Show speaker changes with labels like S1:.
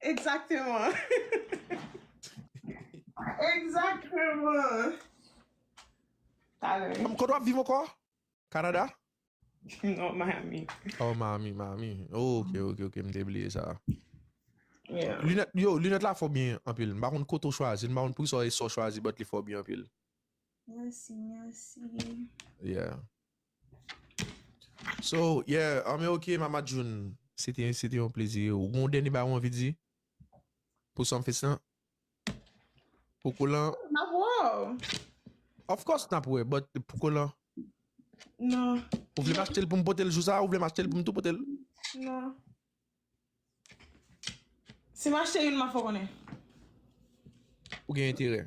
S1: Exactement. Exactement.
S2: Talè. Kote wap viv ankò? Canada? Non,
S1: Miami. Oh, Miami,
S2: Miami. Oh, ok, ok, ok. M te bliye sa. Yeah.
S1: Lunèt, yo, lunèt la
S2: fò byen anpil. M pa konn kote ou chwazi, m pa konn poukisa ou e sa ou chwazi but li fò byen anpil. Merci,
S1: merci.
S2: Yeah. So yeah an men ok mama June se te se te yon plezi ou gen yon dènye bagay ou anvi di pou Sumfest lan pou kolan Nap wè
S1: w Of
S2: course nap wè but pou kolan
S1: Nan Ou vle m achte
S2: l pou m pote l jou sa ou vle m achte l pou m tou pote l
S1: Nan Si m achte youn map fè w konnen
S2: Ou gen enterè